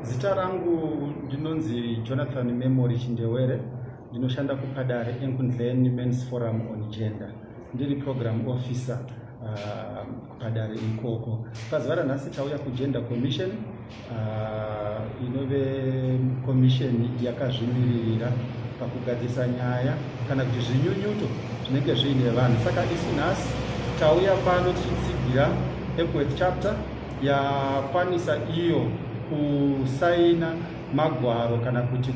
Zita rangu ndinonzi Jonathan Memory Chindewere ndinoshanda kuPadare Enkundleni Men's Forum on Gender ndiri program officer uh, kuPadare ikoko. Pazuva ranhasi tauya kuGender Commission uh, inove commission yakazvimiririra pakugadzirisa nyaya kana kuti zvinyunyuto zvinenge zviine vanhu saka isu nhasi tauya pano tichitsigira Epworth chapter yakwanisa iyo kusaina magwaro kana kuti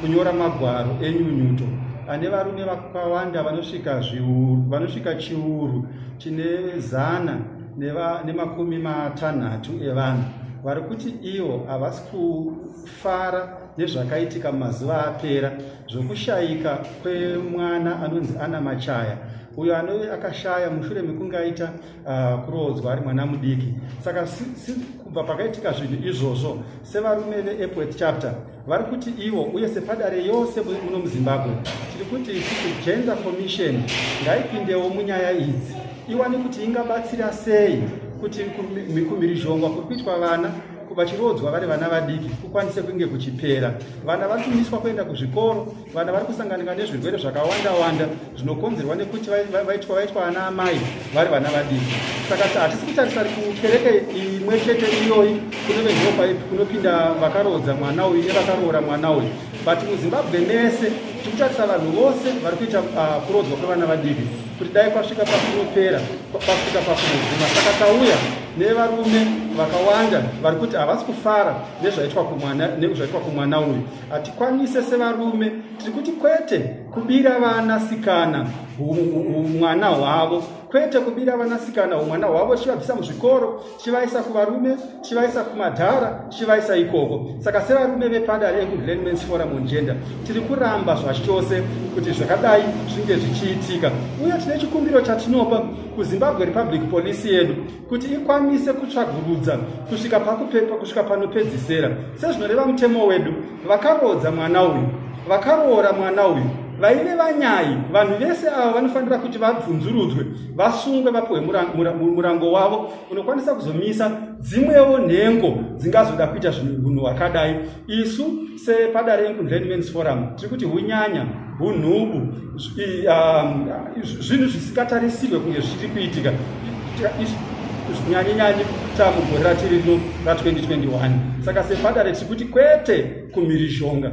kunyora magwaro enyunyuto ane varume vakawanda vanosvika zviuru vanosvika chiuru chine zana nemakumi matanhatu evanhu vari kuti ivo havasi kufara nezvakaitika mumazuva apera zvokushayika kwemwana anonzi ana machaya uyo anove akashaya mushure mekunge aita uh, kuroodzwa ari mwana mudiki saka si, si, kubva pakaitika zvinhu izvozvo sevarume veepworth chapter vari kuti ivo uye sepadare yose muno muzimbabwe tiri kuti isusu gender commission ngaipindewo munyaya idzi iwane kuti ingabatsira sei kuti kumhirizhongwa kuri kuitwa vana vachiroodzwa vari vana vadiki kukwanise kunge kuchipera vana vatumiswa kuenda kuzvikoro vana vari kusanganika nezvirwere zvakawanda wanda zvinokonzerwa nekuti vaitwa vaitwa ana amai vari vana vadiki saka hatisi kutarisa kukereke imwe chete iyoyi kune vehopa kunopinda vakaroodza mwana uyu nevakaroora mwana uyu but muzimbabwe mese tikutarisa vanhu vose vari kuita ah, kuroodzwa kwevana vadiki kuti dai kwasvika pakunopera kwasvika pakunoguma saka tauya nevarume vakawanda vari kuti havasi kufara nezvaitwa kumwana nezvaitwa kumwana uyu hatikwanise sevarume tiri kuti kwete kubira vanasikana mwana hwavo kwete kubira vanasikana umwana hwavo chivabvisa muzvikoro chivaisa kuvarume chivaisa kumadhara chivaisa ikoko saka sevarume vepada reengundlandmans forum on gender tiri kuramba zvachose kuti zvakadai zvinge zvichiitika uye tine chikumbiro chatinopa kuzimbabwe republic police yedu kuti ikwanise kutsvagurudza kusvika pakupepa kusvika panopedzisera sezvinoreva mutemo wedu vakaroodza mwana uyu vakaroora mwana uyu vaive vanyai vanhu vese ava vanofanira kuti vabvunzurudzwe vasungwe vapiwe murango wavo unokwanisa kuzomisa dzimwewo nhengo dzingazoda kuita zvinhu hwakadai isu sepada renkundleni mens forum tiri kuti hunyanya hunhubu um, zvinhu zvisingatarisirwe kunge zvichiri kuitika nyanyenyanyi tamugore ratiri rino ra 2021 saka sepada retiri kuti kwete kumhirizhonga